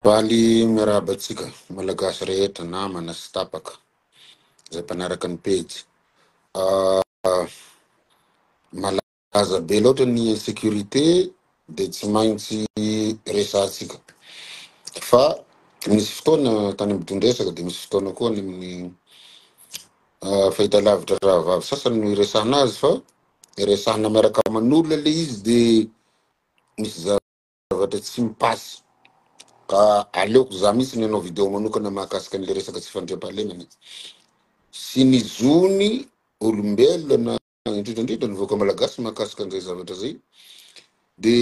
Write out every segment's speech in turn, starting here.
Faly miarahaba antsika Malagasy rehetra, namana sy tapaka izay mpanaraka ny pejy. Malaza be loatra ny insécurité dia tsy maintsy resahantsika. Fa nisy fotoana tany amin'ny dohan-dresaka dia misy fotoana koa any amin'ny fahitalavitra rahavavy sasany no iresahana azy fa iresahana miaraka aman'olona ilay izy dia misy Zavatra tsy mi passe. Ka aleoko za mihitsy ny hanao video manokana mahakasika an'le resaka tsy fandriampahalemana sy ny zon'ny olombelona indrindra indrindra ny vahoaka malagasy mahakasika an'izay zavatra zay de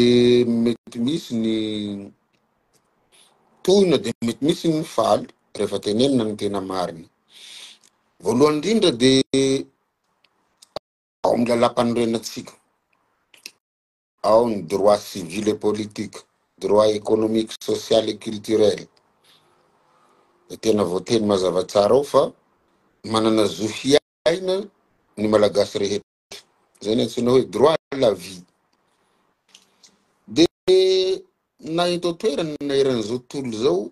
mety misy ny tohina de mety misy ny faly rehefa tenenina ny tena marina. Voalohany indrindra de ao amin'ny lalam-panorenantsika. ao ny droits civils et politiques, droits économiques, social et culturel, dia tena voateny mazava tsara ao fa manana zo hiaina ny Malagasy rehetra, izay no antsoina hoe droit à la vie. Dia na eto an-toerana na eran'izao tontolo izao,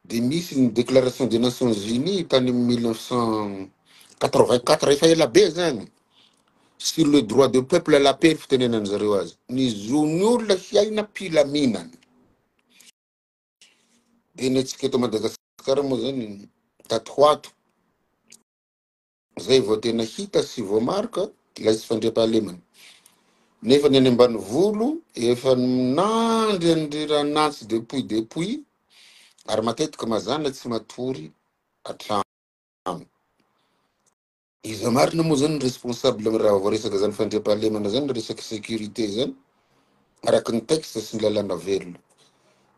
Dia nisy ny Déclaration des Nations Unies tany amin'ny mille neuf cent quatre-vingt-quatre, efa ela be izany, sur le droit de peuple à la paix, fitenenan'ny zareo azy, ny zon'ny olona hiaina am-pilaminana. Dia ny antsika eto Madagasikara moa izany, tato ho ato, Izay vao tena hita sy voamarika ilay tsy fandriampahalemana. Nefa ny any ambanivolo efa nandry an'i Riranantsy depuis depuis ary matetika mazàna tsy matory hatrany. Iza marina moa zany ny responsable raha vao resaka zany fandriampahalemana zany, resaka sécurité zany? araka ny texte sy ny lalàna velona.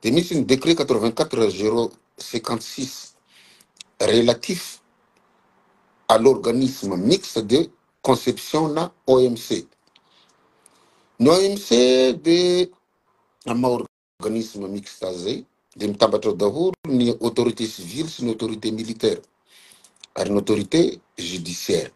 Dia misy ny décret quatre vingt quatre zero cinquante six relatif à l'organisme mixte de conception na OMC. Ny OMC dia amin'ny maha organisme mixta zay dia mitambatra ao daholo ny autorité civile sy ny autorité militaire ary ny autorité judiciaire.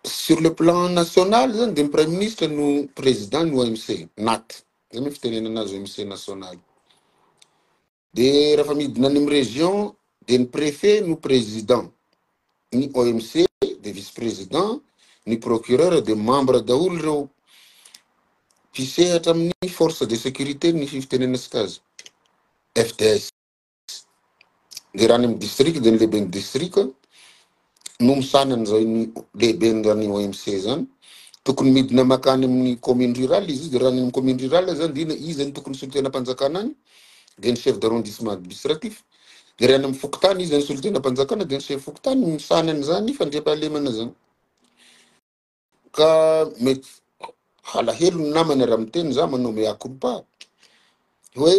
Sur le plan national zany dia ny praiminisitra no président ny OMC, nat, zay moa ny fitenenana azy OMC national. De rafa midina any am region de ny prefet no president, ny OMC de vice president, ny procureur de membre daholo reo mpisehatra aminy force de securite ny fivitenena sika azy FDS. De raha any am district de ny lehibeny district. Nomisana an'izao iny lehiben'izany OMC izany, tokony midina makany amin'ny commune rurale izy io, dia raha any amin'ny commune rurale izany dia inona, iza no tokony solotenam-panjakana any? dia ny chef d'arrondissement administratif, dia raha any amin'ny fokontany iza no solotenam-panjakana dia ny chef fokontany no misahana an'izany fandriampahalemana izany. Ka mety halahelo ny namana raha miteny za manao mea culpa hoe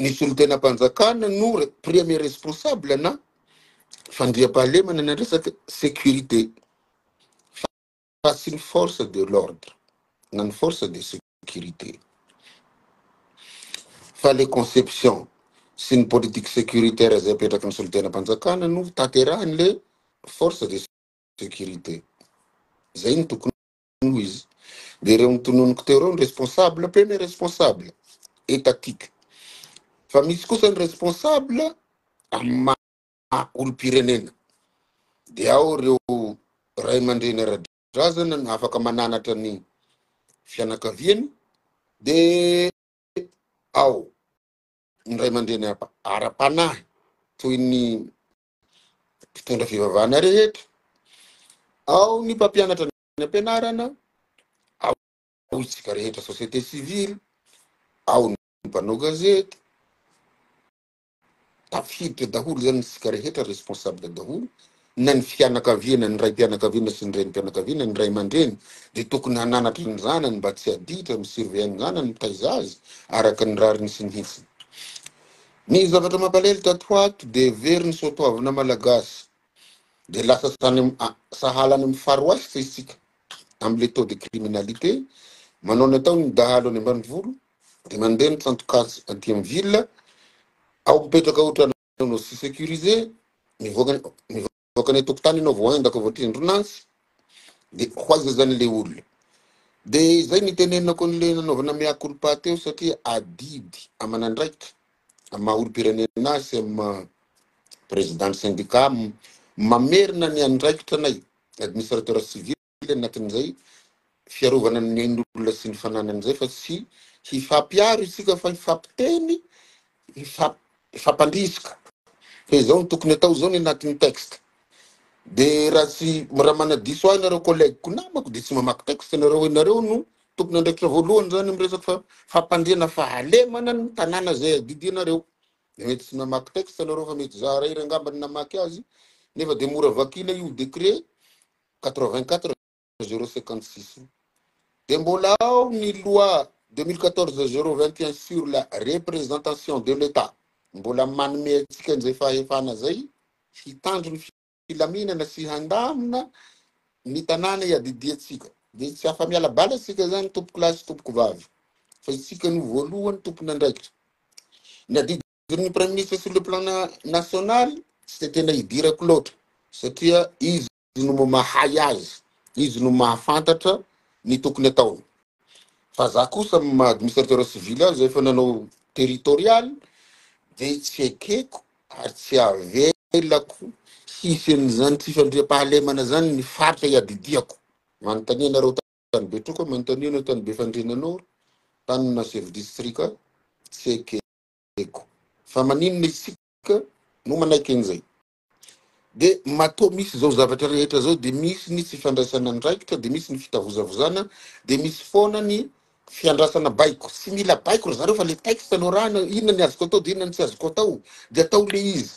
ny solontenam-panjakana no premier responsable na fandriampahalemana ny resaka sécurité fa tsy ny force de l'ordre na ny force de sécurité fa le conception sy ny politique sécuritaire izay apetraky ny solontenam-panjakana no taterahan'le force de sécurité zay no tokony ho izy de reo notononiko teo reo ny responsable pé ny responsable étatique fa misy kosa ny responsable amin'ny maha olom-pirenena de ao reo ray aman-dreny ara-drazana no afaka mananatra ny fianakaviany de ao ny ray aman-dreny ara-panahy toy ny mpitondra fivavahana rehetra, ao ny mpampianatra ny ampianarana, ao isika rehetra société civile, ao ny mpanao gazety, tafiditra daholo zany isika rehetra responsable daholo, na ny fianakaviana, ny raim-pianakaviana sy ny renim-pianakaviana, ny ray aman-dreny dia tokony hananatra ny zanany mba tsy aditra, mi-surveiller ny zanany, mitaiza azy araka ny rariny sy ny hitsiny. Ny zavatra mampalahelo tato ho ato dia very ny soatoavina malagasy dia lasa sany am a sahala any amin'ny far west isika amin'ilay taux de criminalité manao ny ataony ny dahalo any ambanivolo dia mandeha ny tsantokasy aty amin'ny ville ao mipetraka ohatran'ny tsy securisé mivoaka ny Mivoaka any an-tokotany ianao vao aingako vao tendrona azy de ho aiza zany le olona. De izay nitenenako an'le nanaovana mea culpa teo satria adidy aman'andraikitra amin'ny maha olom-pirenena sy amin'ny maha président ny syndicat mamerina ny andraikitra anay administrateur civil. kely anatin'izay fiarovana ny ain'olona sy ny fananany izay fa tsy hifampiaro isika fa hifampiteny, hifamp- hifampandrisika. Fa izao no tokony atao, izao ny anatin'ny texte. Dia raha tsy raha manadiso ahy nareo collègue-ko namako dia tsy mamaky texte nareo, ianareo no tompon'andraikitra voalohany izany amin'ny resaka fa- fampandriana fahalemana ny tanàna izay adidianareo. Dia mety tsy namaky texte nareo fa mety za irery angamba no namaky azy nefa dia mora vakiana io décret 84 056 dia mbola ao ny loi 2014 021 sur la représentation de l'Etat mbola manome antsika an'izay fahefana izay hitandro ny filaminana sy handamina ny tanàna iadidiantsika dia tsy afa-miala bala isika izany tompokolahy sy tompokovavy fa isika no voalohany tompon'andraikitra ny adidy Ny praiminisitra sur le plan national tsy dia tena idirako loatra satria izy no mahay azy, izy no mahafantatra ny tokony ataony. Fa za kosa amin'ny maha administrateur civil azy efa nanao territorial dia tsy ekeko ary tsy avelako hisy an'izany tsy fandriampahalemana izany ny faritra iadidiako. Manontania anareo tany Betroka, manontania anao tany Befandriana Nord, tany na chef district, tsy ekeko. eko fa maninona isika no manaiky an'izay? Dia matoa misy izao zavatra rehetra izao dia misy ny tsy fandraisana andraikitra dia misy ny fitavozavozana dia misy foana ny fiandrasana baiko. Tsy mila baiko ry zareo fa le texte no arahana inona ny azoko atao dia inona ny tsy azoko atao dia atao le izy.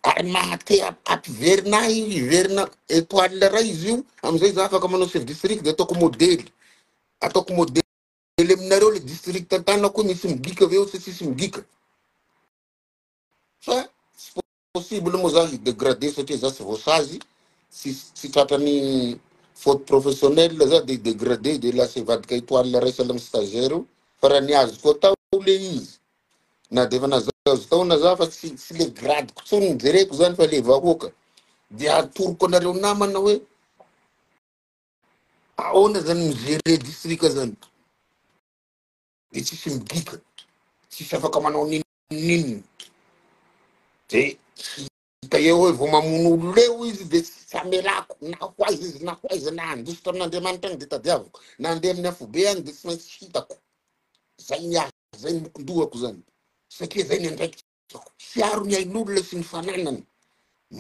Ary mahate hap- hampiverina ahy hiverina étoile iray izy io amin'izay za afaka manao chef district dia ataoko modely. Ataoko modely. Kely aminareo le district Tana koa misy migika ve sa tsisy migika? Fa tsy possible moa za hi-degrader satria za tsy voasazy, tsy tsy tratran'ny faute professionnelle za de hi-degrader de lasa hivadika étoile raisina amin'ny stagiaire io fa raha ny azoko atao le izy na de efa nahazoazo taona za fa tsy tsy le gradiko intsony no jereko zany fa le vahoaka de atoroko anareo namana hoe Aona zany mi gere distrika zany de tsisy midika tsisy afaka manao ninoninona de tsy hita eo hoe vao mamono olona eo izy de tsy amelako na ho aiza izy na ho aiza na handiso tamin'Andriamanitra any de tadiaviko na handeha amin'ny afobe any de tsy maintsy hitako zay ny ahy zay ny mokondohako zany satria zay ny andraikitsako hiaro ny ain'olona sy ny fananany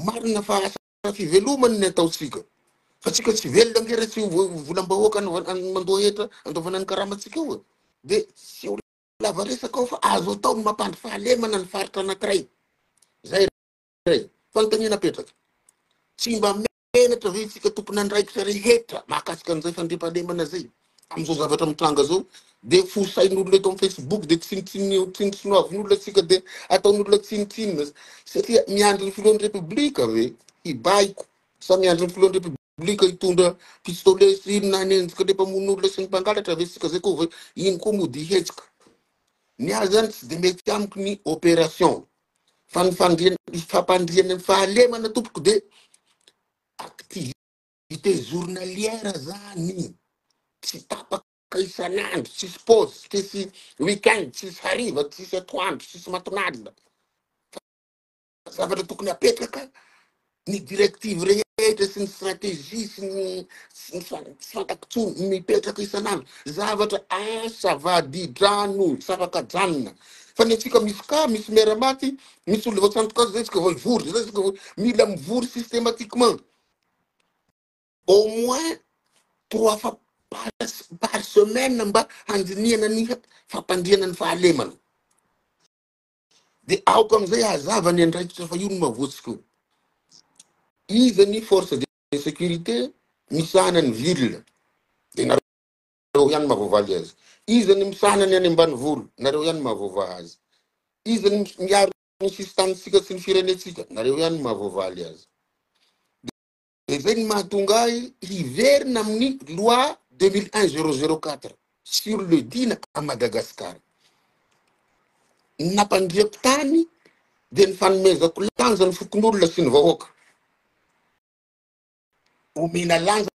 marina fa fivelomany ny ataontsika fa tsika tsy velona nge re tsy volam-bahoaka mandoa hetra andoavana ny karamatsika eo e de tsy ho lava resaka ao fa azo atao ny mampandry fahalemana ny faritra anankiray zay ray fanontaniana apetraka tsy mba menatra ve tsika tompon'andraikitra rehetra mahakasika an'izay fandriampahalemana zay Amin'izao zavatra mitranga izao dia fosain'olona eto amin'ny Facebook dia tsinotsino tsinotsinoavin'olona antsika dia ataon'olona tsinontsinona satria miandry ny filohan'ny Repoblika ve hibaiko sa miandry ny filohan'ny Repoblika hitondra pistolet sy inona hanenjika ilay mpamono olona sy ny mpangalatra ve isika izay koa ve iny koa mody hihetsika. Ny ahy izany tsy dia mety amiko ny opération fa ny fandriana ny fampandriana ny fahalemana tompoko dia activité Dite journalière zany, tsy tapaka isan'andro, tsisy pause, tsisy week-end, tsisy hariva, tsisy atoandro, tsisy matinalina. Fa zavatra tokony apetraka ny directive rehetra sy ny stratégie sy ny sy ny fa- tsy fantako tsony mipetraka isan'andro. Zavatra asa vadidrano tsy afaka janona. Fa ny antsika misy ka, misy miara-maty, misy olona vao tsy antoka azy zay tsika vao hivory, zay tsika vao mila mivory systématiquement. Au moins trois fois par semaine mba handinihana ny fampandriana ny fahalemana. Dia aoka amin'izay hazava ny andraikitra fa io no mavotsiko io. Iza ny force de sécurité misahana ny ville? Dia nareo ihany mahavoavaly azy. Iza ny misahana ny any ambanivolo? Nareo ihany mahavoavaha azy. Iza ny miaro ny sisin-tanintsika sy ny firenentsika, nareo ihany no mahavoavaly azy. Dia zay ny mahatonga ahy hiverina amin'ny loi 21004 sur le dina à Madagascar. Ny nampandriako tany dia ny fanomezako lanja ny fokonolona sy ny vahoaka. Omena lanja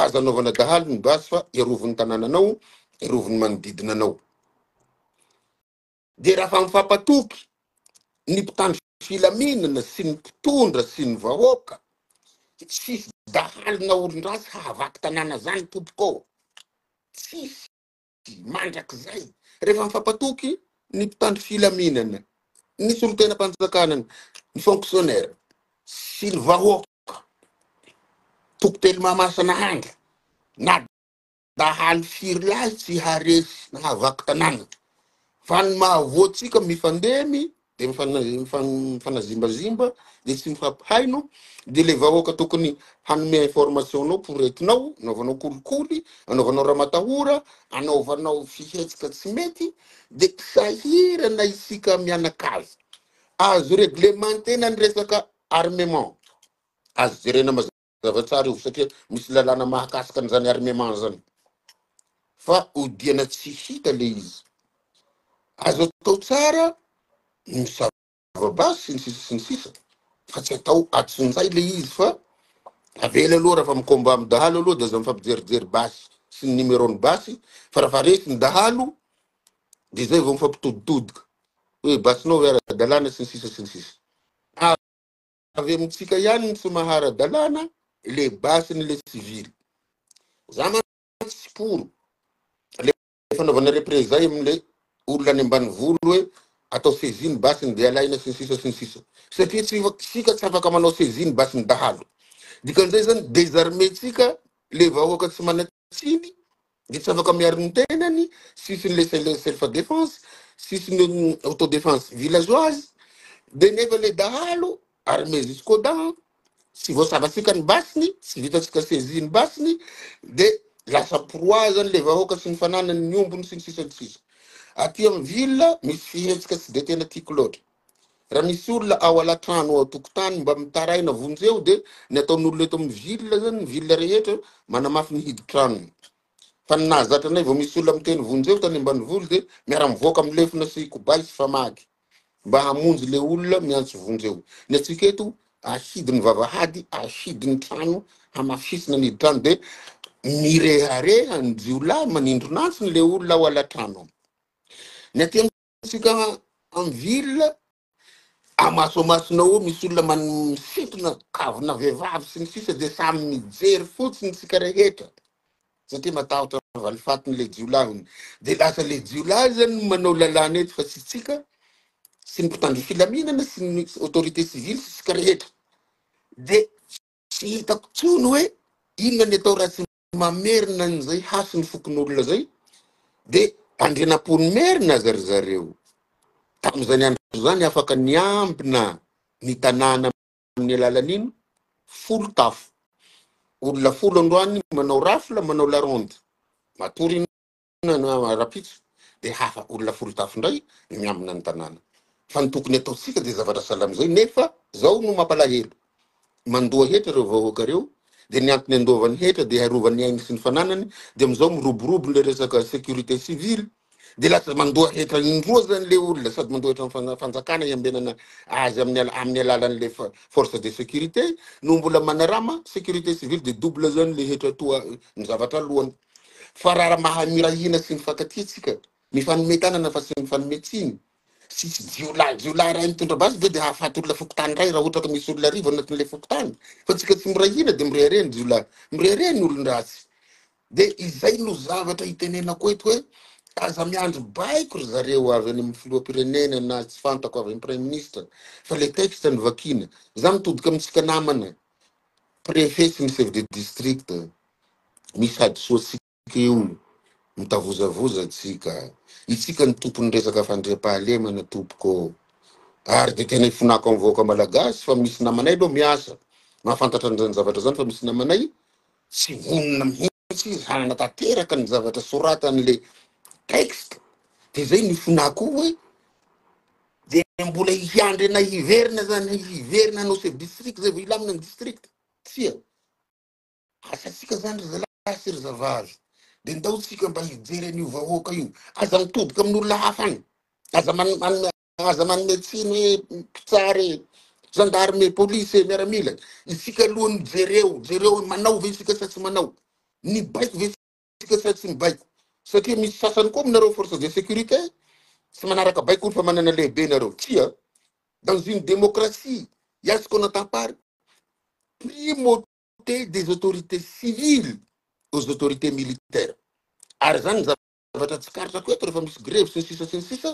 Aza anaovana dahalo ny basy fa erovin'ny tanànanao, erovin'ny manodidina anao. Dia raha mifampatoky ny mpitandro filaminana sy ny mpitondra sy ny vahoaka, tsisy dahalo na olon-dratsy hahavaky tanàna zany tompoko ô! Tsisy. Mandrakizay, rehefa mifampatoky ny mpitandro filaminana, ny solontenam-panjakana, ny fonctionnaires sy ny vahoaka, toko telo Mahamasina andro, na dahalo firy lahy tsy haharesy na hahavaky tanàna, fa ny mahavoa antsika mifandemy dia mifanazimbazimba dia tsy mifampihaino dia ilay vahoaka tokony hanome information anao poretinao anaovanao kolikoly anaovanao ramatahora anaovanao fihetsika tsy mety dia sahirana isika mianakavy azo reglementer-na ny resaka armement azo jerena mazava Zava tsara io satria misy lalàna mahakasika an'izany armement zany fa odiana tsy hita le izy. Azo atao tsara ny misava-basy sy ny sisa sy ny sisa fa tsy atao atsinjay le izy fa avela aloha raha fa mi-combat amin'ny dahalo aloha dia aza mifampijerijery basy sy ny numéro-n'ny basy fa raha fa resy ny dahalo dia izay vao mifampitoditodika hoe basinao ve ara-dalàna sy ny sisa sy ny sisa. Avy amintsika ihany ny tsy mahara-dalàna, le basy ny le sivily. Za mantsy tsy poro le fanaovana reprezay amle olona any ambanivolo hoe atao saisie ny basy ny dia alaina sy ny sisa sy ny sisa. Satria tsy isika tsy afaka manao saisie ny basy ny dahalo. Dikan'izay zany désarmer-tsika le vahoaka tsy mana tsiny dia tsy afaka miaro ny tenany, tsisy ny le self defense, tsisy ny auto defense villageoise, dia nefa ilay dahalo armé jusqu'aux dents, tsy voasavantsika ny basiny, tsy vitantsika saisie ny basiny, dia lasa proie zany ilay vahoaka sy ny fananany, ny ombony sy ny sisa ny sisa. Aty amin'ny ville misy fihetsika tsy dia tena tiako loatra. Raha misy olona ao alatrano ao tokotany mba mitaraina vonjeo dia ny ataon'olona eto amin'ny ville zany ny ville rehetra manamafy ny hiditranony. Fa ny nahazatra anay vao misy olona miteny vonjeo tany ambanivolo dia miara mivoaka amin'ny lefona sy kobay sy famaky mba hamonjy le olona miantso vonjeo. Ny antsika eto ahidy ny vavahady ahidy ny trano hamafisina ny hiditrano dia mirehareha ny jiolahy manindronantsiny le olona ao alatrano. Ny aty Tsika en ville amaso amasona eo misy olona man misintona kavina vehivavy sy ny sisa dia samy mijery fotsiny tsika rehetra satria matahotra valifatin'ilay jiolahiny dia lasa le jiolahy zany no manao lalàna eto fa tsy tsika sy ny mpitandro filaminana sy ny autorité civile sy tsika rehetra dia tsy hitako tsony hoe inona ny atao raha tsy mamerina an'izay hasin'ny fokonolona zay de tandrinam-pony merina aza ry zareo. Tamin'izany andro izany afaka niambina ny tanàna amin'ny alalan'ino? Folo tafo. Olona folo androany manao rafle, manao la ronde. Matory Tanàna rahampitso dia hafa olona folo tafo indray ny miambina ny tanàna fa ny tokony ataontsika dia zavatra sahala amin'izay nefa izao no mampalahelo mandoa hetra ireo vahoaka ireo dia ny antony andoavany hetra dia hiarovany ny ainy sy ny fananany dia amin'izao miroborobo ilay resaka sécurité civile dia lasa mandoa hetra indroa zany le olona sady mandoa hetra amin'ny fanjakana hiambenana azy amin'ny ala- amin'ny alalan'ilay fa- force de sécurité no mbola manarama sécurité civile dia double zany le hetra toa ny zavatra aloha Fa raha mahay mirahina sy mifankatia isika, mifanome tanana fa tsy mifanome tsiny, sy tsy jiolahy jiolahy iray mitondra basy ve dia hahafaty olona fokontany iray raha ohatra ka misy olona arivo anatin'ilay fokontany? Fa isika tsy mirahina dia mirehareha ny jiolahy, mirehareha ny olon-dratsy. Dia izay no zavatra itenenako eto hoe aza miandry baiko ry zareo avy any amin'ny filoham-pirenena na tsy fantako avy amin'ny praiminisitra fa ilay texte no vakiana. Izaho mitodika amintsika namana préfet sy ny chef de district misy hadisoantsika io mitavozavoza antsika itsika ny tompon'ny resaka fandriampahalemana tompoko ô ary dia tena ifonako amin'ny vahoaka malagasy fa misy namanay aloha miasa mahafantatra an'izany zavatra zany fa misy namanay tsy vonona mihitsy izy hananatanteraka ny zavatra soratan'le texte dia zay ny ifonako hoe Dia mbola hiandry anay hiverina zany, hiverina hanao chef district zay vao hilamina ny district? Tsia. Asantsika zany ry zalahy sy ry zavavy. Dia ndao tsika mba hijery an'io vahoaka io. Aza mitoboka amin'olona hafa any. Aza man- manome aza manome tsiny hoe mpitsara e, gendarme e, police e, miaramila e. Isika aloha no jereo, jereo hoe manao ve isika sa tsy manao. Nibaiko ve politika sady tsy mibaiko satria misy sasany koa aminareo force de sécurité tsy manaraka baiko ny famanana lehibe nareo tsia dans une démocratie ya ce qu'on entend par primauté des autorités civiles aux autorités militaires ary zany zavatra tsikaritako eto rehefa misy grevy sy ny sisa sy ny sisa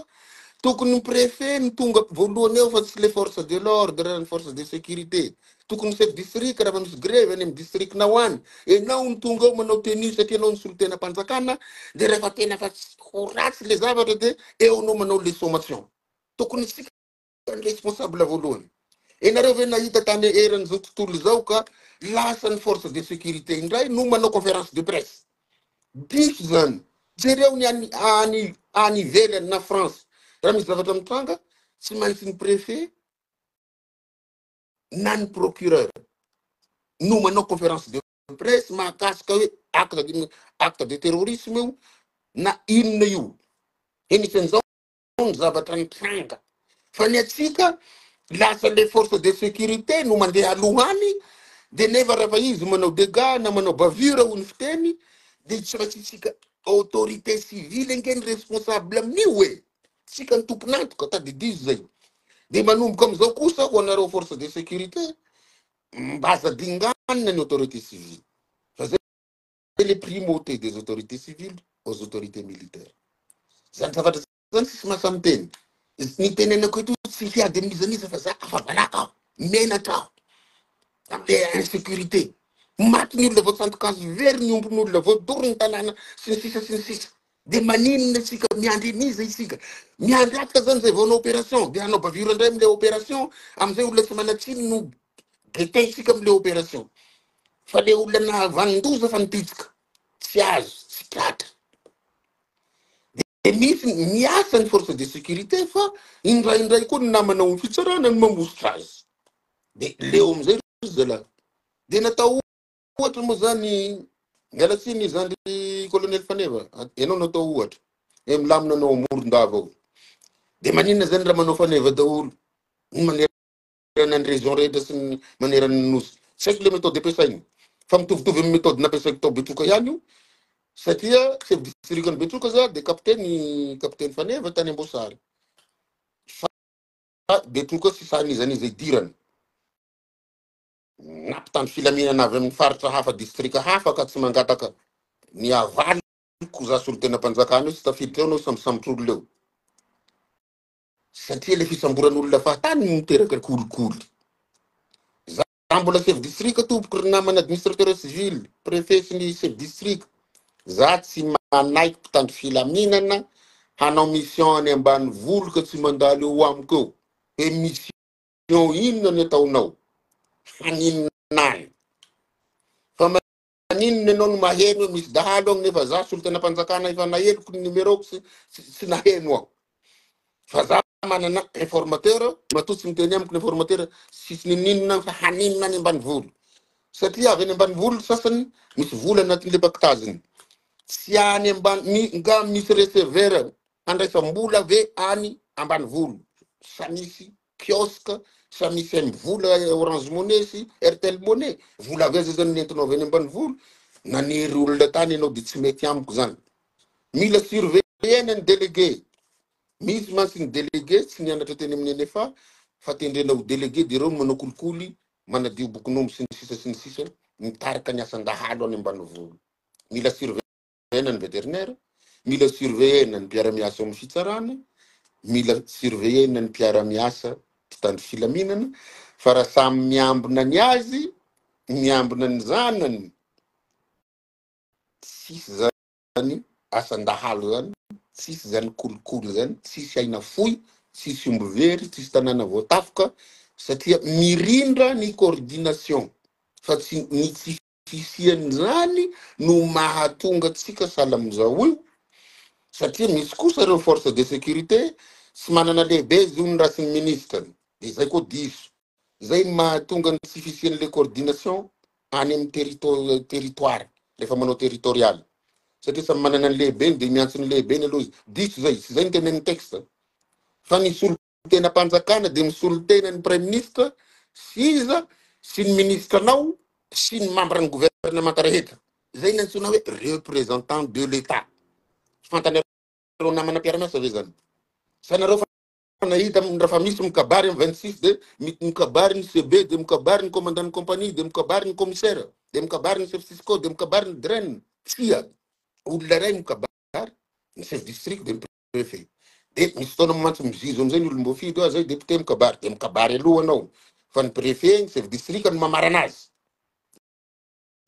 tokony ny préfet no tonga voalohany eo fa tsy le force de l'ordre ny force de sécurité tokony misy distrika raha fa misy grevy any amin'ny district-nao any ianao no tonga ao manao tenue satria ianao no solontenam-panjakana dia rehefa tena fa tsy ho ratsy ilay zavatra dia eo anao manao les sommations tokony isika ny responsable voalohany ianareo ve nahita tany eran'izao tontolo izao ka lasa ny force de sécurité indray no manao conférence de presse diso izany jereo ny any any any ivelany na france raha misy zavatra mitranga tsy maintsy ny préfet na ny procureur no manao conférence de presse mahakasika hoe acte de acte de terrorisme io na inona io enisan'izao ny zavatra nitranga fa ny atsika lasa le force de sécurité no mandeha aloha any de nefa rehefa izy manao dégâts na manao bavure ho ny fiteny de tsy maintsy tsika autorité civile ange ny responsable amin'io e Tsika ny tompon'antoka, tadidio izay. Dia manomboka amin'izao kosa ho anareo force de sécurité, mba aza dinganina ny autorité civile, fa zay le primauté des autorités civiles aux autorités militaires. Zany zavatra zany tsisy mahasahy miteny. Z- Ny tenenako eto tsy hiady amin'izan'iza fa za afa-baraka aho, menatra aho, amin'ny insécurité. Maty ny olona voatsandoka hazo very, ny ombin'olona voadoro ny tanàna, sy ny sisa sy ny sisa. Dia maninona isika miandry an'iza isika? Miandry afka zany zay vao hanao opération? Dia hanao bavure indray amin'ilay opération? Amin'izay olona tsy manan-tsiny no getaintsika amin'ilay opération. Fa ilay olona nahavanon-doza fa nipitsika, tsy azo, tsy tratra. Dia misy ny- miasa ny force de sécurité fa indraindray koa ny namana ao amin'ny fitsarana no mamositra azy. Dia leo amin'izay ry zalahy. Dia natao Ohatra moa zany, miala tsiny zany ry colonel Faneva, ianao no atao ohatra. Hoe milamina anao amoron-dava ao. Dia maninona zany raha manao Faneva daholo? Ny manerana ny région rehetra sy ny manerana ny nosy. Tsy haiko le méthode ampiasainy. Fa mitovitovy amin'ny méthode nampiasaiko tao Betroka ihany io. Satria chef district an'i Betroka za dia kapiteny kapiteny Faneva tany Amboasary. Fa Betroka sy sahan'iza n'iza idirana. na mpitandro filaminana avy amin'ny faritra hafa, distrika hafa ka tsy mangataka ny havaliko za solontenam-panjakana eo, tsy tafiditra eo anao sambosambotr'olona eo. Satria le fisamboran'olona fahatany no miteraka kolikoly. Za za mbola chef distrika tompoko ry namana administrateur civil, préfet sy ny chef distrika. Za tsy manaiky mpitandro filaminana hanao mission any ambanivolo ka tsy mandalo eo amiko eo. Hoe mission Eo inona ny ataonao? Haninona any? Fa maninona ianao no maheno hoe misy dahalo agny nefa za solontenam-panjakana efa naheloko ny numéro-ko sy tsy naheno aho. Fa za manana informateur matoa tsy miteny amiko ny informateur sy tsy ninoninona agny fa haninona any ambanivolo? Satria avy any ambanivolo sasany misy vola anatin'le pactage-ny. Tsy any ambany, nga misy receveur Handraisam-bola ve any ambanivolo sa misy kiosque sa misy M vola, orange money sy airtel money? Vola avy aiza zany ny entinao avy any ambanivolo? Nanery olona tany ianao dia tsy mety amiko zany. Mila surveiller-na ny délégué. Misy mantsy ny délégué tsy nianatra teny amin'ny NFA fa tendrena ho délégué dia ireo no manao kolikoly, manadio bokin'omby sy ny sisa sy ny sisa, mitarika ny asan-dahalo any ambanivolo. Mila surveiller. ny vétérinaire, mila surveiller-na ny mpiara-miasa ao amin'ny fitsarana, mila surveiller-na ny mpiara-miasa mpitandro filaminana fa raha samy miambina ny azy, miambina ny zanany, tsisy zany asan-dahalo zany, tsisy zany kolikoly zany, tsisy aina fohy, tsisy omby very, tsisy tanàna voatafoka satria mirindra ny coordination fa tsy ny tsy Fisian'izany no mahatonga antsika sahala amin'izao io satria misy kosa ireo force de sécurité tsy manana lehibe izy io ny rasin'ny ministrany dia izay koa diso. Izay mahatonga ny tsy fisian'ilay coordination any amin'ny terito territoire rehefa manao territorial satria samy manana ny lehibeny dia miantso ny lehibeny aloha izy. Diso izay, tsy izay ny tenenin'ny texte fa ny solo. ny tenam-panjakana dia misolo tena ny praiminisitra sy iza sy ny minisitranao sy ny mambran'ny governemanta rehetra. Izay ny antsoina hoe représentant de l'Etat. Tsy fantanareo namana mpiara-miasa ve izany? Sa nareo fa nahita rafa misy mikabary amin'ny 26 dia mikabary ny CB dia mikabary ny commandant ny compagnie dia mikabary ny commissaire dia mikabary ny chef cisco dia mikabary ny DREN. Tsia, olona iray mikabary ny chef district dia Prefe. Dia misy fotoana mantsy mizizo an'izay ny olom-boafidy hoe zay député mikabary dia mikabary aloha anao fa ny prefe, ny chef district no mamarana azy.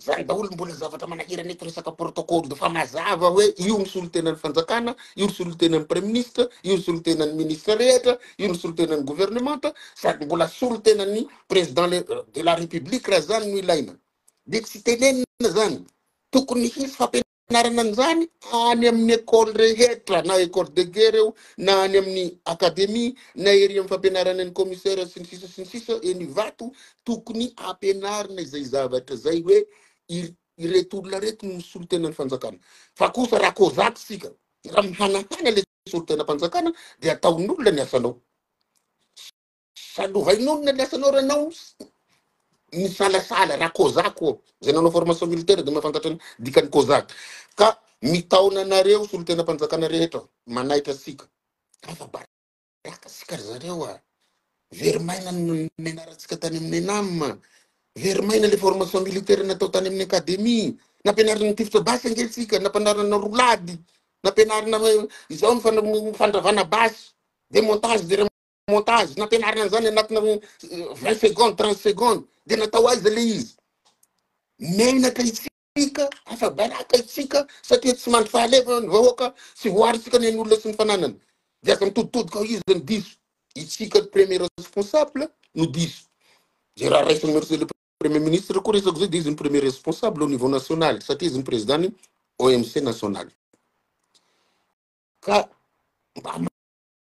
Zany daholo mbola zavatra manahirana eto resaka protocole de fa mazava hoe io ny solontenan'ny fanjakana, io ny solontenan'ny praiminisitra, io ny solontenan'ny ministra rehetra, io ny solontenan'ny governemanta sady mbola solontenan'ny président le- euh, de la république raha zany no ilaina. Dia tsy tenenina zany. Tokony hisy fampianarana Anarana an'izany any amin'ny école rehetra na école de guerre eo na any amin'ny académie na ery amin'ny fampianarana ny commissaire sy ny sisa sy ny sisa eny Ivato tokony ampianarina izay zavatra izay hoe ireto olona ireto no misolo tena ny fanjakana fa kosa raha kozak isika raha mihanahana le solon-tenam-panjakana dia ataon'olona ny asanao Saloha inona ny asanao ranao misalasala raha kozak ô zay nanao formation militaire de mahafantatra ny dikany kozak ka mitaona anareo solontenam-panjakana rehetra manaitra antsika afa baraka sika ry zareo a very maina ny menaratsika tany amin'ny enam very maina le formation militaire natao tany amin'ny academie nampianarina ny tifitra basy ange tsika nampianarina rolady nampianarina izao ny fandravana basy de montage de montage nampianarina an'izany anatina vingt secondes trente secondes dia natao aiza le izy menaka itsika afa-baraka itsika satria tsy mandry fahalefa ny vahoaka tsy voaritsika ny an'olona sy ny fananana dia aza mitoditodika ao izy ny diso itsika premier responsable no diso zay raha raisin'ny merce le premier ministre koa resako zay dia izy ny premier responsable au niveau national satria izy ny président ny OMC national ka mba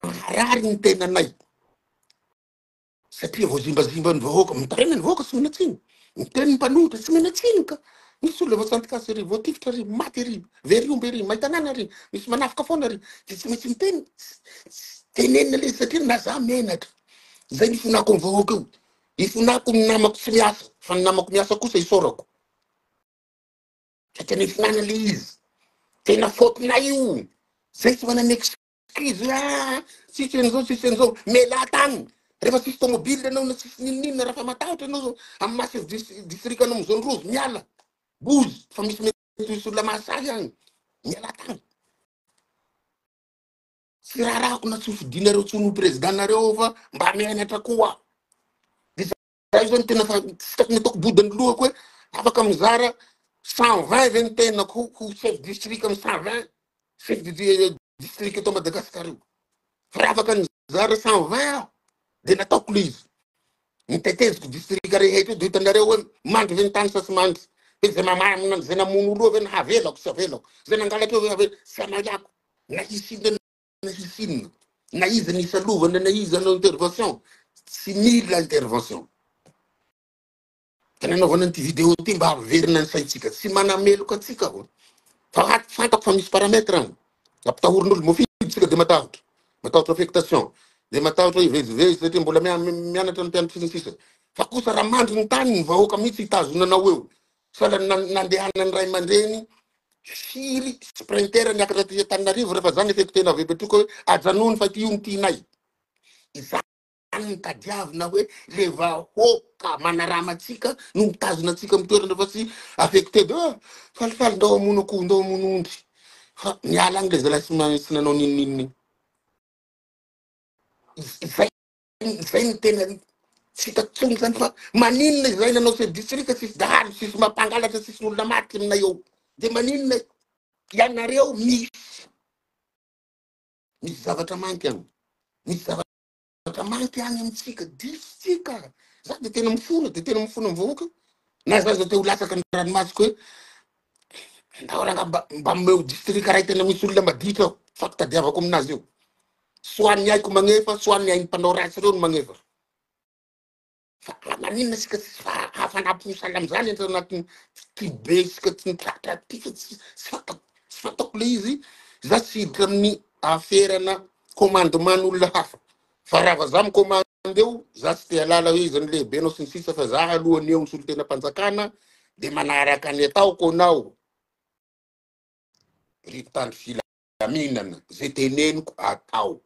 Maharary ny tenanay satria voazimbazimba ny vahoaka, mitaraina ny vahoaka tsy mena tsiny, miteny ny mpanohitra tsy mena tsiny ka. Misy olona voasantikasa ery, voatifitra ery, maty ery, very omby ery, may tanàna ery, misy manafika foana ery, dia tsy maintsy miteny, tenenina le satria na za menatra. Izay ny ifonako ny vahoaka io. Ifonako ny namako tsy miasa, fa ny namako miasa kosa isaorako. Satria nifinana le izy. Tena faute-nay io. Zay tsy manana Krizy hoe ah, tsisy an'izao, tsisy an'izao, mialà tany. Rehefa tsisy tômôbily ianao na tsisy n'inon'inona, raha fa matahotra ianao amin'ny masin'ny dis- distrikanao amin'ny zone rouge, miala. Bozy, fa misy mety misy olona mahasahy agny. Mialà tany. Tsy raharahako na tsy hofidinareo intsony ho président-nareo aho fa mba mianatra koa. Zay zao ny tena fa tsy tokony ataoko boda ny lohako hoe afaka mizara cent vingt ve ny tenako ho ho chef district amin'ny cent vingt chef de di- district eto Madagasikara io. Fa raha afaka nizara cent vingt aho dia nataoko le izy. Ny teteziko district rehetra io dia hitanareo hoe mandry ve ny tany sa tsy mandry. Dia izay mamamina izay namono olona eo ve na havelako tsy havelako. Izay nangalatra eo ve havelako tsy hamaliako. Na hisy inona na hisy inona na iza ny isalovana na iza anao intervention tsy mila intervention tena anaovana an'ity vidéo ty mba haverina ny saintsika tsy manameloka antsika aho fa hat- fantako fa misy paramètre any ampitahorin'olo mofidy tsika de matahotra matahotra affectation de matahotra hivezivezy satria mbola mia- mianatra ny mpianatry ny sisa fa kosa raha mandry ny tany ny vahoaka mihitsy hitazona anao eo Fa nandehanan'ny ray aman-dreny firy sprinter niakatra aty Antananarivo rehefa zany efeko teny avy Betroka hoe ajanony fa ity io no tianay. Izany no tadiavina hoe le vahoaka manarama antsika no mitazona antsika amin'ny toerana fa tsy afeko tedy hoe falifaly ndao hamono akoho ndao hamono ondry fa miala any le zalahy tsy nanao n'inon'inona iny. Izay Izay no tena tsy hitako tsony zany fa maninona izay nanao chef district tsisy dahalo tsisy mampangalatra tsisy olona maty aminay eo de maninona ianareo misy misy zavatra manky any misy zavatra manky any amintsika disotsika za de tena mifona de tena mifona mivahoaka na za zao te ho latsaka ny ranomasoko hoe Andao ranga mba mba omeo distrika ray tena misy olona maditra ao fa fitadiavako aminazy io soit ny aiko magnefa soit ny ainy mpanao ratsy reo no magnefa fa raha maninona sika tsy fa hafanapo misala amizany entra anatiny ty be sika tsy mitratra ty fa tsy tsy fatako tsy fatako le izy za tsy hiditra amin'ny aferana commandement ny olona hafa Fa raha vazaha mi-commande eo, za tsy te halala hoe iza no lehibenao sy ny sisa fa za aloha ny eo ny solontenam-panjakana de manaraka ny ataoko anao ry mpitandro filaminana, ze teneniko atao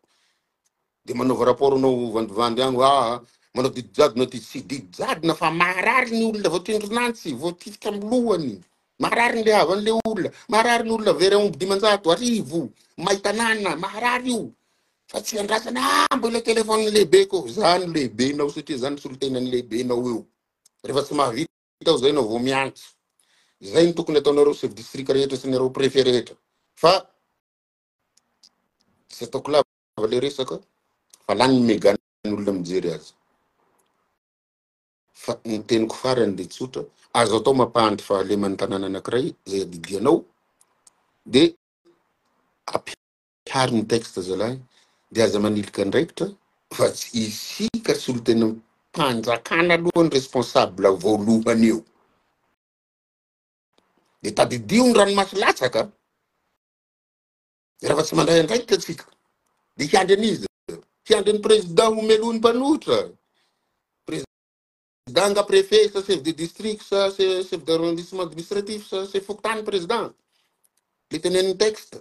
de manaova rapport anao vandivandy agny hoe aa manao didy jadona aty, tsy didy jadona fa marary ny olona voatsindron'antsy, voatifitra am lohany, marary ny le havan le olona, marary ny olona very aomby dimanjato arivo may tanàna, marary io, Fa tsy andrasana ah mbo ilay telefaoniny lehibeko eo. Za no lehibenao satria za no solontenan'ny lehibenao eo. Rehefa tsy mahavita aho zay ianao vao miantso. Izay no tokony ataonareo chef district rehetra sy anareo prefet rehetra. Fa tsy ataoko lava ilay resaka fa lany ny megan'olona mijery azy. Fa ny teniko farany dia tsotra, azo atao mampahantra fahaleman'ny tanàna anankiray izay adidianao dia Tary ny texte zalahy de aza manilika andraikitra fa tsy isika solontenan'ny mpanjakana aloha ny responsable voalohany eo de tadidio ny ranomaso latsaka raha fa tsy mandray andraikitra tsika de hiandry an'iza hiandry ny président homelohiny mpanohitra président nga préfet sa chef de district sa chef d'arrondissement administratif sa chef fokontany président le teneniny texte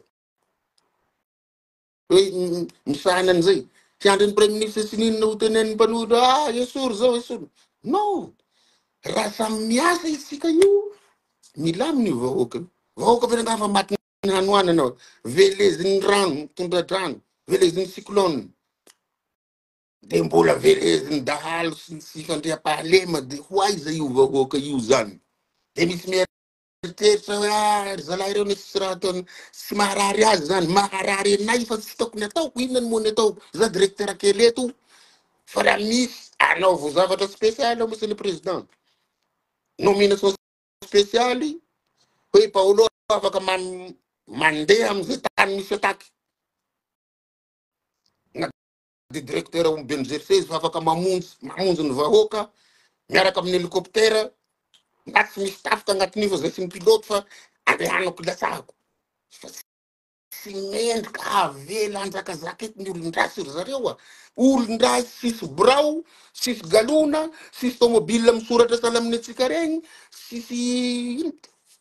Hoe misahana an'izay. Hiandry ny Praiminisitra sy ny inona ho tenenin'ny mpanohitra hoe ah esory izao esory. No! Raha samy miasa isika io, milamina io vahoaka io. Vahoaka avy nangaha fa matin'ny hanoanana ao. Velezin'ny rano, tondra-drano, velezin'ny cyclone. Dia mbola velezin'ny dahalo sy ny tsy fandriampahalema dia ho aiza io vahoaka io izany? Dia misy miha Eritreritra hoe ah ry zalahy ireo misy tsy raha ataony tsy maharary azy zany, maharary anay fa tsy tokony ataoko inona no mony ataoko za directeur kely eto fa raha misy anaovo zavatra spécial ao monsieur le président nomination spéciale hoe Paolo afaka man- mandeha amin'izay tany misy attaque na dia directeur ao amin'ny BMGC izy fa afaka mamonjy mamonjy ny vahoaka miaraka amin'ny hélicoptère na tsy misy tafika agnatin'io fa zay tsy ny pilote fa andehanako ilatsahako fa tsy tsy mendrika avela anjakazaka eto ny olon-dratsy ry zareo a olon-dratsy sisy birao sisy galona sisy tomobile misoratra sahala amin'ny antsika regny sisy ino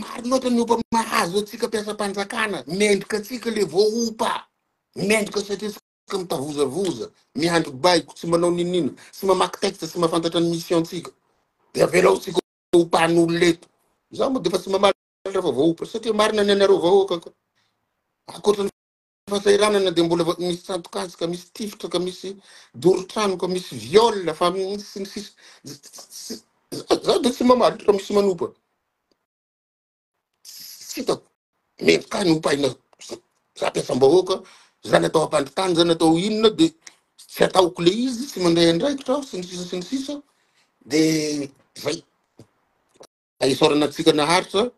Maro loatra ny opa mahazo antsika mpiasam-panjakana, mendrika antsika le voaopa, mendrika satria antsika mitavozavoza, miandry baiko, tsy manao ninina, tsy mamaky texte, tsy mahafantatra ny mission-tsika, dia avelao antsika opan'olona eto. Za moa dia efa tsy mamalatra fa voaopa, satria marina ny anareo vahoaka ka, ankoatra ny fahasahiranana dia mbola va- misy tsato-kazo ka misy tifitra ka misy doro-trano ka misy viol fa mi- sy ny sisa Z- z- z- za za dia tsy mamaly fa misy manopa tsy hitako mendrika ny hopaina za za mpiasam-bahoaka za natao hampandritany za natao inona dia tsy ataoko le izy tsy mandray andraikitra aho sy ny sisa sy ny sisa dia zay isaorana antsika naharitra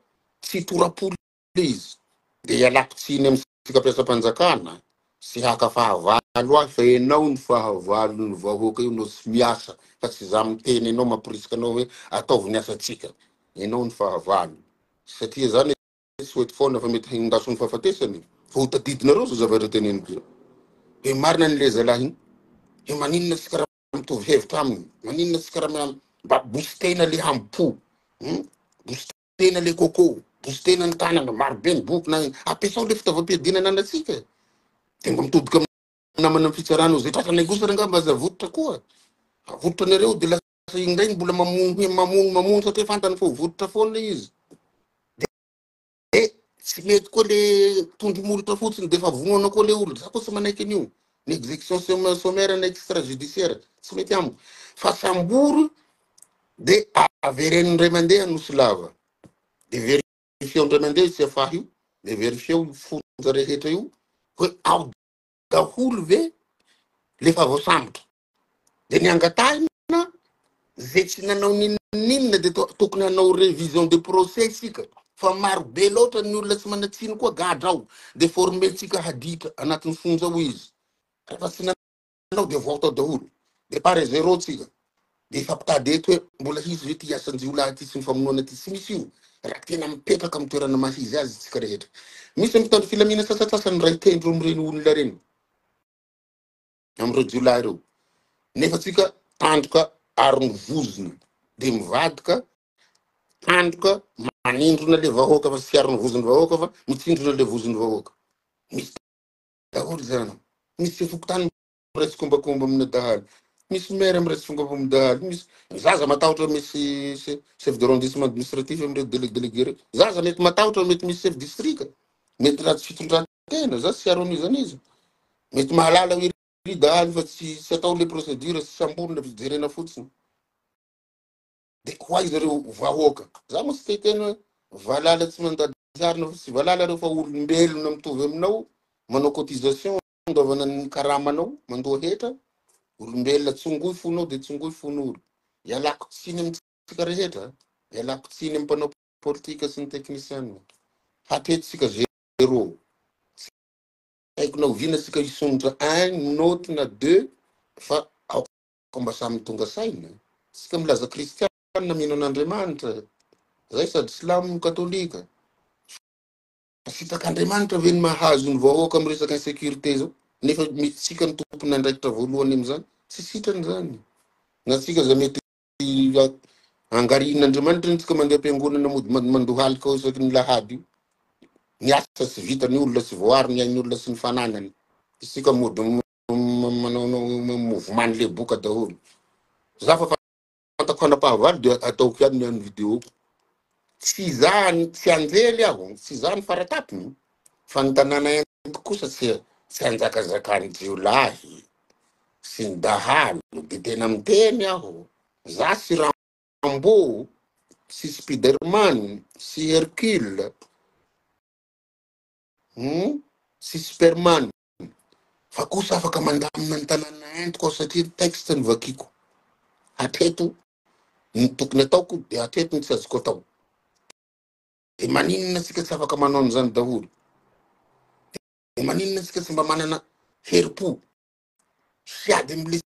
tsy tora-polo please de ialako tsiny amintsika mpiasam-panjakana sy haka fahavalo ahy fa enao ny fahavalo ny vahoaka io no tsy miasa fa tsy za miteny enao mamporisika anao hoe ataovy ny asantsika enao ny fahavalo satria zany tsy hoety foana fa mety hindaso ny fahafatesany fa ho tadidinareo zao zavatra teneniko zao de marina ny leza lahiny he maninona tsy karaha mitovy hevitra aminy maninona tsy karaha mba bositena le hampo hmm? Tena le coco, bosy tena ny tanana, maro be ny boky na ampiasao le fitaovam-piadiana ananantsika e. Dia mba mitodika amin'ny namana amin'ny fitsarana ao izay tratrany kosa re angamba aza avototra koa. Avototra anareo dia lasa iny indray ny mbola mamono hoe mamono mamono satria fantany fa ho vototra foana le izy. Dia tsy mety koa le tondro molotra fotsiny dia efa vonoana koa le olona. Za koa tsy manaiky an'io. Ny exécution som- sommaire na extrajudiciaire tsy mety amiko. Fa sambory de avereno indray mandeha Anosy Lava de verifieo indray mandeha io CFA io de verifieo io fonja rehetra io hoe ao daholo ve le efa voasambotra de ny angatahina ze tsy nanao ninoninona de tokony hanao révision de procès isika fa maro be loatra ny olona tsy manatsiny koa gadra ao de formentsika haditra anatin'ny fonja ao izy rehefa tsy Ianao dia voaoty ao daholo. Départ à zéro tsika. Dia efa mpitady eto hoe mbola hisy ve ity hiasan-jiolahy ity sy ny famonoana ity. Tsy misy io raha tena mipetraka amin'ny toerana maha-izy azy isika rehetra. Misy ny mpitandro filamina sasantsasany miray tendro amin'ireny olona ireny, amin'ireo jiolahy ireo. Nefa tsika tandroka aron'ny vozona dia mivadika, tandroka manindrona ilay vahoaka fa tsy aron'ny vozon'ny vahoaka fa mitsindrona ilay vozon'ny vahoaka. Misy daholo zany. Misy fokontany miray tsikombakomba amina dahalo. Misy maire miray tsikombakomba amina dahalo. Misy zaza matahotra misy se- chef de arrondissement administratif amin'ireo délégué délégué ireo. Zaza mety matahotra mety misy chef district. Mety ratsy fitondran-tena za tsy aron'iza izany iza. Mety mahalala hoe ry dahalo fa tsy tsy atao le procédure sy samborina fa jerena fotsiny. Dia ho aiza ireo vahoaka? Za moa tsy te hiteny hoe valala tsy mandady harona fa tsy valala ireo fa olombelona mitovy aminao manao cotisation andoavana ny karamanao mandoa hetra olombelona tsongoy fonao dia tsongoy fon'olo ialako tsiny amintsika rehetra ialako tsiny amin'ny mpanao politika sy ny teknisianina hatetsika zero tsy haiko na oviana tsika hisondrotra un note na deux fa Mba samy tonga saina isika milaza kristianina mino an'Andriamanitra zay sady silamo no katolika. Sitak'Andriamanitra ve ny mahazo ny vahoaka amin'ny resaka insécurité zao nefa isika no tompon' andraikitra voalohany amin'izany? Tsy sitrany zany. Na tsika za mety angarihin'Andriamanitra ny tsika mandeha am-piangonana mody mandohalika ao isaky ny lahady io. Ny asa tsy vitan'ny olona, tsy voaaro ny ain'ny olona sy ny fananany. Isika mody manaonao mouvement ny leboka daholo za fa fantako fanapahavalo dia ataoko ihany ny video ko tsy za tsy anjely aho tsy za ny faratapony fa ny tanàna ento kosa tsy tsy anjakazakany jiolahy sy ny dahalo de tena miteny aho za sy rambo sy spiderman sy hercule sy superman fa kosa afaka mandamina ny tanàna entiko aho satria ny texte no vakiako. Hatreto ny tokony ataoko dia hatreto ny tsy azoko atao. Dia maninona tsika tsy afaka manao an'izany daholo? Dia maninona tsika tsy mba manana herim-po sy ady amin'ilay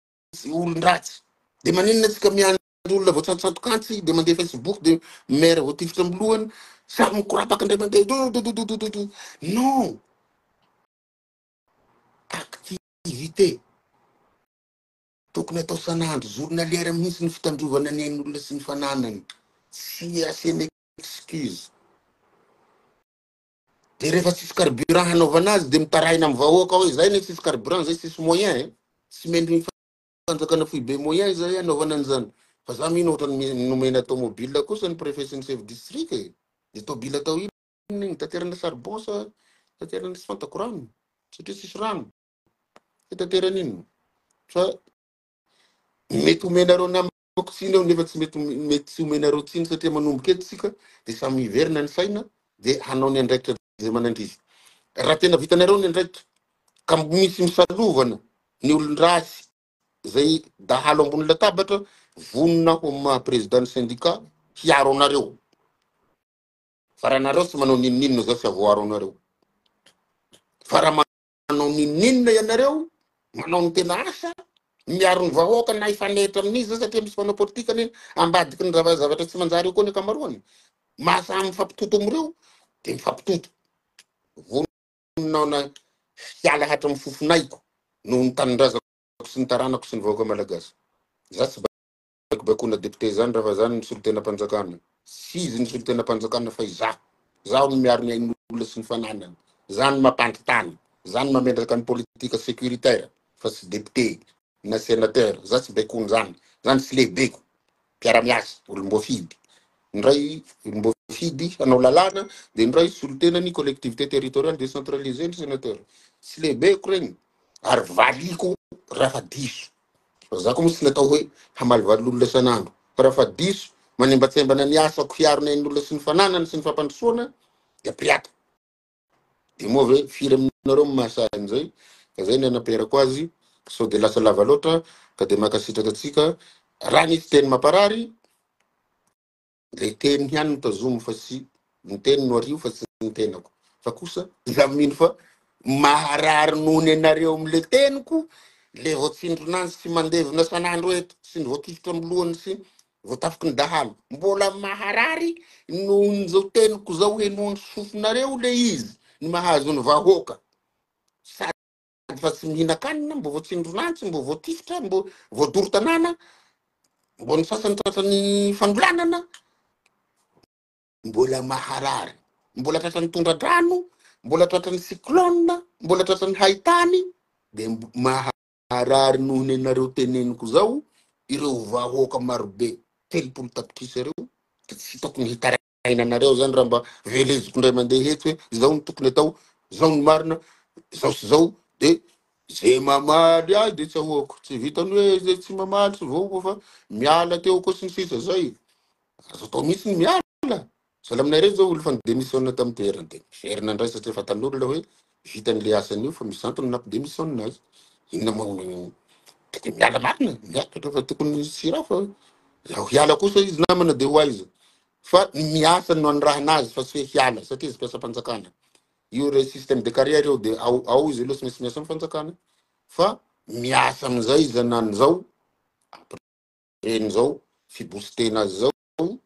olon-dratsy? Dia maninona tsika miandry ny olona voatsantosantok'antsy dia mandeha facebook dia maire voatifitra amin'ny lohany sary mikorapaka indray mandeha dododododododo non activité tokony atao sanandro journalière mihitsy ny fitandrovana ny ain'olona sy ny fananany tsy asiana excuse dia rehefa tsisy carburant hanaovana azy dia mitarahina amin'ny vahoaka hoe izay ne tsisy carburant izay tsisy moyen eh. tsy mendriny fanjakana foibe moyen izay hanaovana an'izany fa za mino ohatra ny nomena tomobile kosa ny préfet sy ny chef district e de tobile atao inona iny taterana charbon sa taterana tsy fantako rano satria tsisy rano hitaterana inona fa mety omenareo nama Ataoko tsiny aho nefa tsy mety mety tsy omenareo tsiny satria manomboka eto isika dia samy hiverina ny saina dia hanao ny andraikitra izay manandriza. Raha tena vitanareo ny andraikitra ka misy misalovana ny olon-dratsy izay dahalo ambony latabatra, vonona aho amin'ny maha président ny syndicat hiaro anareo. Fa raha nareo tsy manao n'inon'inona za tsy havoaro anareo. Fa raha Manao ninoninona ianareo, manao ny tena asa, miaro ny vahoaka na hifanehitra amin'izy zany satria misy mpanao politika anie ambadiky ny zava- zavatra tsy manjary eo koa ny ankamaroany. Maha samy mifampitoto amin'ireo dia mifampitoto. Vonona aho na hiala hatramin'ny fofon'aiko noho ny tanindrazako sy ny taranako sy ny vahoaka malagasy. Za tsy Baikobaikoana député zany raha fa zany ny solontenam-panjakana. Tsy izy ny solontenam-panjakana fa izaho. Izaho no miaro ny ain'olona sy ny fananany. Izaho no mampandry tany. Izaho no mamendraka ny politique sécuritaire fa tsy député na sénateur. Izaho tsy baikoana zany. Zany tsy lehibeko. Mpiara-miasa, olom-boafidy. Ny iray olom-boafidy hanao lalàna dia ny iray solontenan'ny collectivité territoriale décentralisée ny sénateur. Tsy lehibeko regny ary valiko raha fa diso. Razako moa tsy natao hoe hamalivaly olona isan'andro fa raha fa diso manembatsembana ny asako hiaro ny ain'olona sy ny fananany sy ny fampandrosoana dia pirata. Dia moa ve firy aminareo no mahasahy an'izay? Ka zay ny hanaperako azy sao dia lasa lava loatra ka dia mankasitraka antsika raha nisy teny mamparary. Ilay teny ihany no tazomy fa tsy ny teny no ario fa tsy ny tenako. Fa kosa izaho mino fa maharary noho ny anareo amin'ilay teniko ilay voatsindrona azy sy mandevina san'andro eto sy ny voatifitra amin'ny lohany sy voatafiky ny dahalo. Mbola maharary noho ny izao teniko izao henoan'ny sofinareo ilay izy ny mahazo ny vahoaka. fa tsy mihinan-kanina, mbo voatsindron'any, tsy mbo voatifitra, mbo voadoro tanàna, mbo ny sasany tratran'ny fanolanana, mbola maharary, mbola tratran'ny tondra-drano, mbola tratran'ny cyclone, mbola tratran'ny haitany, de maharary noho ny anareo teneniko zao ireo vahoaka marobe telopolo tapitrisa ireo, de tsy hitako ny hitaraiana Fiainanareo zany raha mba veleziko ndray mandeha hetsy hoe izao no tokony atao, izao no marina, izao sy izao de ze mamaly ahy de tsahoako, tsy vitany hoe ze tsy mamaly sy voa fa miala teo koa sy ny sisa zay. Azo atao mihitsy ny miala. Sahala aminay reto zao olo fa ni-demissionne tam toerany de miverina ndray satria fantan'olona hoe Vitany le asany eo fa mizantona na de misy saonina aza. Inona ma hono io. Tokony miala marina, miakatra fa tokony hisy sira fa raha hiala kosa izy namana de ho aiza. Fa ny miasa no anirahana azy fa tsy hoe hiala satria izy mpiasam-panjakana. Io re système de carrière io de ao ao izy io aloha tsy maintsy miasa am'fanjakana fa miasa am'zay izy anan'zao après an'zao fi-booster-na azy zao.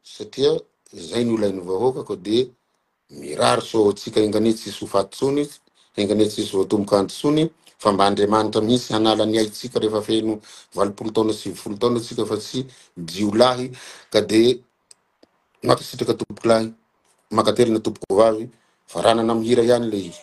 satria izay no ilain'ny vahoaka koa dia mirary soa ho antsika enganie tsisy ho faty tsony enganie tsisy voatomboka anty tsony fa mba andriamanitra mihitsy hanala ny aitsika rehefa feno valopolo taona sy sivifolo taona atsika fa tsy jiolahy ka dia mankasitraka tompokolahy mankatelina tompoko vavy fa ranana mihira ihany le izy